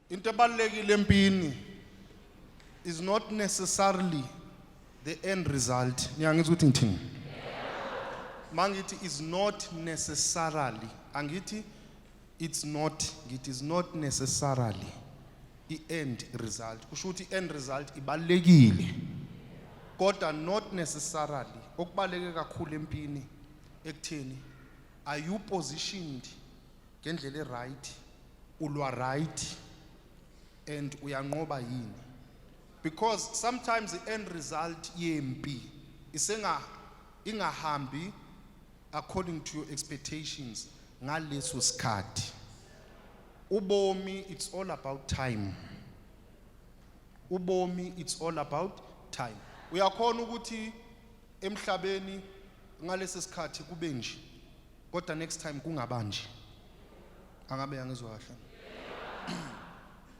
into ebalulekile empini is not necessarily the end result niyangizwa ukuthi ngithini mangithi is not necessarily angithi it's not it is not necessarily i-end result kusho ukuthi i-end result ibalekile kodwa not necessarily okubaleke kakhulu empini ekutheni are you positioned ngendlela eright ulwa right and uyanqoba yini because sometimes the end result yempi isenga ingahambi according to your expectations ngaleso sikhathi ubomi it's all about time ubomi it's all about time uyakhona ukuthi emhlabeni ngalesi sikhathi kube nje kodwa next time kungaba nje angabe yangizwa kahle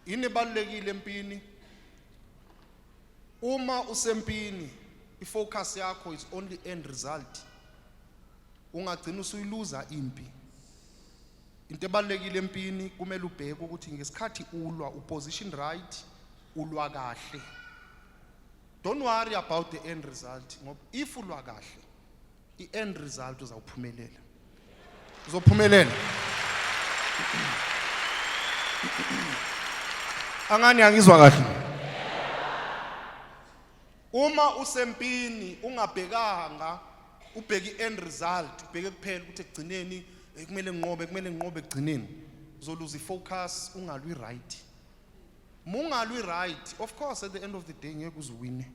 ini balekile empini Uma usempini ifocus yakho is only end result. Ungagcina usuyiluza impi. Into ebalekile empini kumele ubheke ukuthi ngesikhathi ulwa uposition right ulwa kahle. Don't worry about the end result ngoba if ulwa kahle i-end result uzawuphumelela uzophumelela angani angizwa kahle uma usempini ungabhekanga ubheke i-end result ubheke kuphela ukuthi ekugcineni eh, kumele nginqobe kumele nginqobe ekugcineni uzoluza i-focus ungalwi right mungalwi right of course at the end of the day ngeke uziwine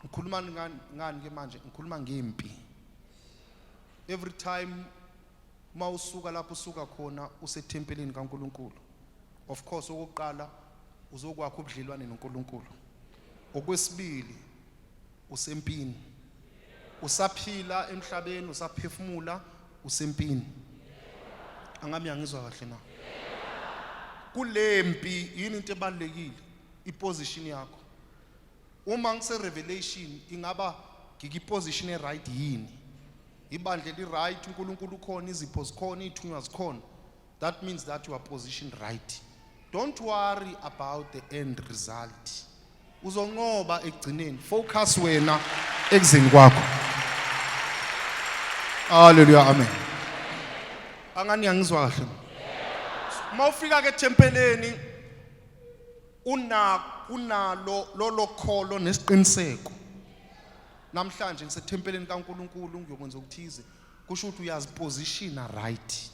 ngikhuluma ngani ngani ke manje ngikhuluma ngempi every time mawusuka lapho usuka khona usethempelini kaNkuluNkulu of course okokuqala uzokwakha ubudlelwane noNkuluNkulu okwesibili usempini usaphila emhlabeni usaphefumula usempini angami angizwa kahle na kulempi yini into ebalekile iposition yakho Uma ngise revelation ingaba ngiki position e right yini? Ibandla eli right, uNkulunkulu ukhona, izipho zikhona, ithunywa zikhona. That means that you are positioned right. Don't worry about the end result. Uzonqoba ekugcineni. Focus wena ekuzeni kwakho. Hallelujah. Amen. Angani angizwa kahle. Uma ufika ke tempeleni una kunalo lolo kholo nesiqiniseko namhlanje ngisethempeleni kaNkuluNkulu ngiyokwenza okuthize kusho ukuthi uyazipositiona right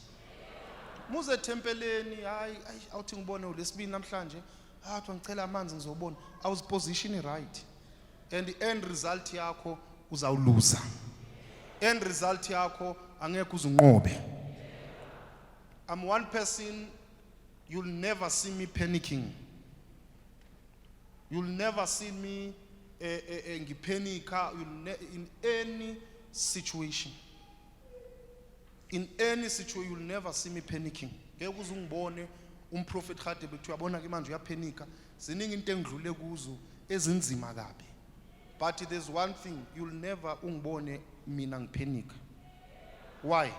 muze ethempeleni hayi awuthi ngibone ulesibini namhlanje athi ah, ngicela amanzi ngizobona awuzipositioni right and the end result yakho uzawuluza end result yakho angeke uzunqobe i'm one person You'll never see me panicking. You'll never see me uh, uh, ngiphenika in any situation. In any situation you'll never see me panicking. Ngeke uze ungibone umprofet Khade bethu uyabona ke manje uyaphenika. Ziningi into engidlule kuzo ezinzima kabi. But there's one thing you'll never ungibone mina ngiphenika. Why?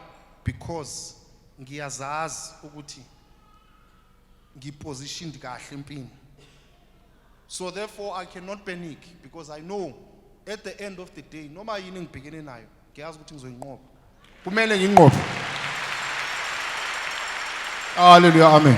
Because ngiyazazi ukuthi ngipositioned kahle empini. So therefore I cannot panic because I know at the end of the day noma yini ngibhekene nayo ngiyazi ukuthi ngizoyinqoba. Kumele nginqobe. Hallelujah. Amen.